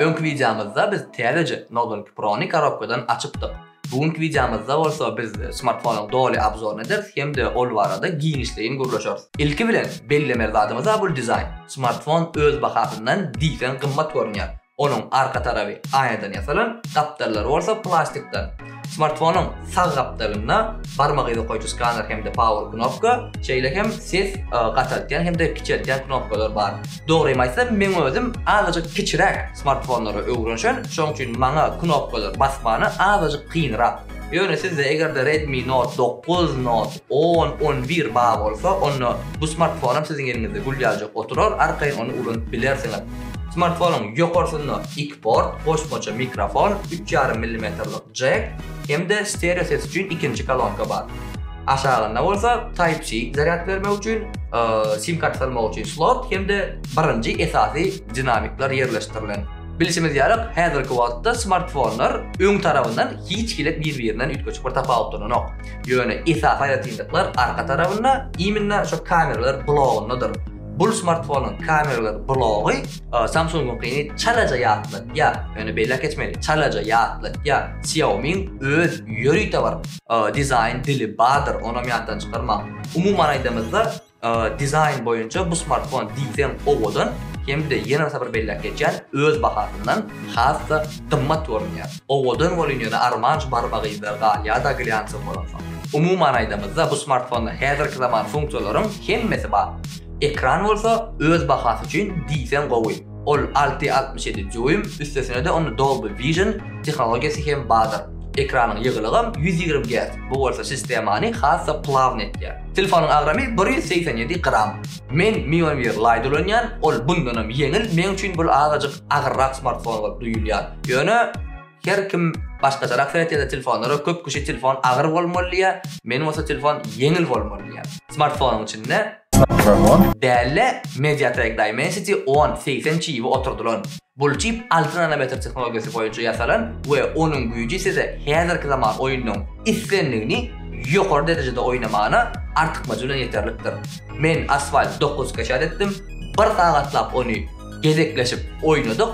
Öňki wideomyzda biz täzeje Nodenk Pro-ny korobkadan açypdyk. Bu günki wideomyzda bolsa biz smartfonyň doly obzoryny ederis hem-de ol barada giňişleýin gürleşeris. Ilki bilen bellemeli zadymyz-a bul dizaýn. Smartfon öz bahasyndan diýseň gymmat görünýär. Onuň arka tarapy aýnadan ýasalan, gapdallary bolsa plastikden. Smartfonyň sag gapdalynda barmak yzy okaýjy skaner hem-de power knopka, şeýle hem ses gataltýan hem-de kiçeltýän knopkalar bar. Dogrymy aýtsam, meň özüm azajyk kiçiräk smartfonlara öwrenşen, şonuň üçin maňa knopkalary basmany azajyk kynrak. Ýöne sizde eger-de Redmi Note dokuz, Note on, on bir bar bolsa, onda bu smartfonam siziň eliňizde gül ýaljak oturar, arkaýyn ony ulanyp bilersiňiz. Smartfonyň ýokarsynda iki port, goşmaça mikrofon, üç ýarym millimetrlik jack hem-de stereo ses üçin ikinji kolonka bar. Aşagynda bolsa Type-C zarýad bermek üçin, sim-karta salmak üçin slot hem-de birinji esasy dinamikler ýerleşdirilen. Bilşimiz ýaly, häzirki wagtda smartfonlar öň tarabyndan hiç hili bir-birinden üýtgeşik bir tapawutlananok. Ýöne esasy aýratynlyklar arka tarabynda, imенно şo kameralar blogyndadyr. Bul smartfonyň kameralar blogy Samsungyňkyny çalaja ýatlatýar, ýöne belläp geçmeli, çalaja ýatlatýar. Xiaomiň öz ýörite bir dizaýn dili bardyr, onam ýatdan çykarmaň. Umuman aýdamyzda, dizaýn boýunça bu smartfon diýseň owadan, hem-de ýene bir sapar belläp geçýän, öz bahasyndan has-da gymmat görünýär. Owadan bolyn ýöne armanj barmagyzda galýada glýansow bolansoň. Umuman aýdamyzda bu smartfonda häzirki zaman funksiýalaryň hemmesi bar. Ekran bolsa öz bahasy üçin diýseň gowy. Ol alty altmyş ýedi dýuym, üstesinede onda Dolby Vision tehnologiýasy hem bardyr. Ekranyň ýygylygam ýüz ýigrimi gerc, bu bolsa sistemany has-da plawny etýär. Telefonyň agramy bir ýüz segsen ýedi gram. Men Mionware Lite ulanýan, ol bundanam ýeňil, meň üçin bul azajyk agyrrak smartfon bolup duýulýar. Ýöne her kim başgaçarak seretýär-de telefonlara, köp kişi telefon agyr bolmaly diýýär, men bolsa telefon ýeňil bolmaly diýýän. Smartfonyň içinde. Däli Mediatek Dimensity on, segsen çibi oturdylan, Bul çip alty nanometr tehnologiýasy boýunça ýasalan we onuň güýji size häzirki zaman oýnunyň islendigini ýokary derejede oýnamagyna artykmajy bilen ýeterlikdir. Men Asphalt dokuz skeçat etdim, bir sagatlap ony gezekleşip oýnadyk,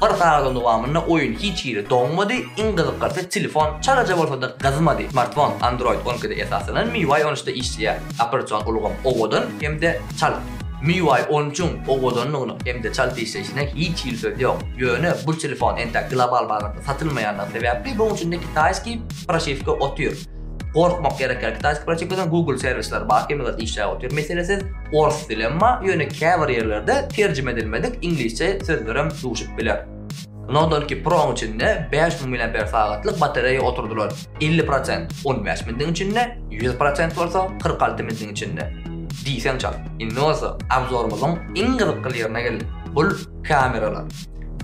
bir sagadyň dowamynda oýun hiç hili doňmady, iň gyzyklasy telefon çalaja bolsada gyzmady, smartfon Android on ikide esaslanan MIUI on üçde işleýär, operasion ulgam owadan hem-de çalt. MIUI on üçiň owadanlygynyň hem-de çalt işleýşine hiç hili söz ýok. Ýöne bu telefon entek global bazarda satylmaýandygy sebäpli munuň içinde kitaýskiý proşiwka otyr. Gorkmak gerekýär kitaýskiý proşiwkadan Google serwisleri bar hemmeler işläp otyr meselesiz. Ors dilem bar, ýöne käbir ýerlerde terjime edilmedik iňlisçe sözlerem duşup biler. Nodonki Pro-nyň içinde bäş müň miliamper sagatlyk batareýa oturdylar, elli prosent on bäş mindiň içinde, ýüz prosent bolsa kyrk alty mindiň içinde. Diýseň çalt. Indi bolsa obzorymyzyň iň gyzykly ýerine geldik, bul kameralar.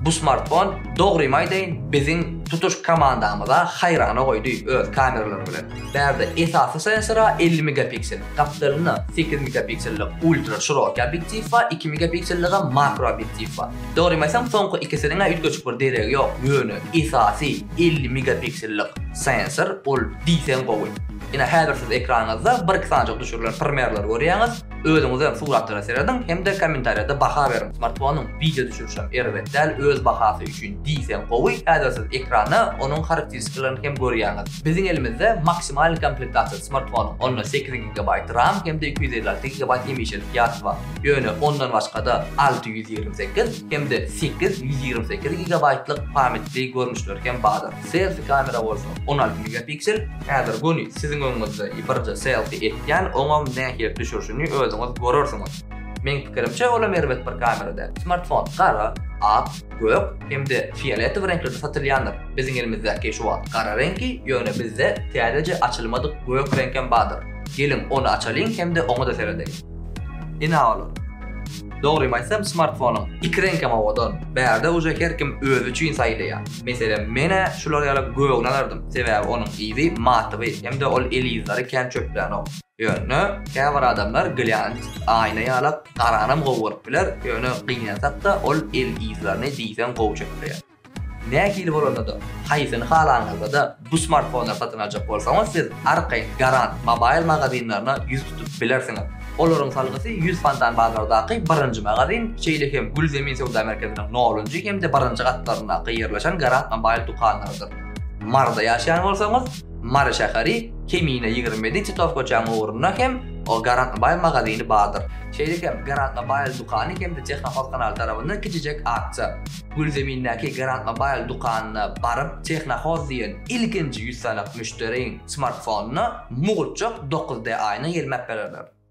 Bu smartfon, dogrymy aýdaýyn, biziň tutuş komandamyza haýrana goýdy öz kameralary bilen. Bärde esasy sensora elli megapiksel, gapdalynda sekiz megapiksellik ultra şiroký obýektiw we iki megapikselligi makro obýektiw bar. Dogrymy aýtsam soňky ikisiniňä üýtgeşik bir deregi ýok ýöne esasy elli megapiksellik sensor ol diýseň gowy. Ine häzir siz ekranyňyzda bir iki sanjyk düşürilen primerleri görýäňiz, özüňizem suratlara serediň hem-de kommentariýada baha beriň. Smartfonyň wideo düşürişem erbet däl öz bahasy üçin diýseň gowy, häzir siz ekranda onuň harakteristikalaryn hem görýäňiz. Biziň elimizde maksimalnyý komplektasiýasy smartfonyň onda sekiz gigabaýt ram hem-de iki ýüz elli alty gigabaýt hemişelik ýatgy bar. Ýöne ondan başga-da alty ýüz ýigrimi sekiz hem-de sekiz ýüz ýigrimi sekiz gigabaýtlyk pametli görnüşler hem bardyr. Selfi kamera bolsa on alty megapiksel. Häzir göni siziň öňüňizde birje selfi etýän, oňam nähili düşürişini özüňiz görersiňiz. Meň pikirimçe olam erbet bir kamera däl. Smartfon gara, ak, gök hem-de fioletowy reňklerde satylýandyr. Biziň elimizdäki şu wagt gara reňki, ýöne bizde täzeje açylmadyk gök reňkem bardyr. Geliň ony açalyň hem-de oňa-da seredeýin. Ina olar. Dogrymy aýtsam smartfonuň iki reňkem owadan. Bärde uje her kim özi üçin saýlaýa. Meselem menä şular ýaly gögni alardym. Sebäbi onuň yzy matyby hemde ol el yzlary kän çöplänok. Ýöne käbir adamlar glýant, aýna ýalak, garanam gowy görüp biler, ýöne gynansakda ol el yzlaryny diýseň gowy çöpleýär. Nähili bolanda-da, haýsyny halaňyzda-da bu smartfonlary satyn aljak bolsaňyz, siz arkaýyn Garant Mobile magazinlerine ýüz tutup bilersiňiz. Olaryň salgysy ýüz fontan bazardaky birinji magazin, şeýle hem Gülzemin söwda merkeziniň nolunjy hem-de birinji gatlaryndaky ýerleşen Garant Mobile dükanlarydyr. Maryda ýaşaýan bolsaňyz, Mary şäheri, Kemine ýigrimi ýedi Titow köçäniň ugrunda hem Garant Mobile magazini bardyr. Şeýle hem Garant Mobile dükany hem-de Tehnofos kanaly tarapyndan kiçijek aksiýa. Gülzemindäki Grantmobile dükanyna baryp Technohoz diýen ilkinji ýüz sanyk müşderiň smartfonyna mugtjak dokuz D-aýna ýelmäp bererler.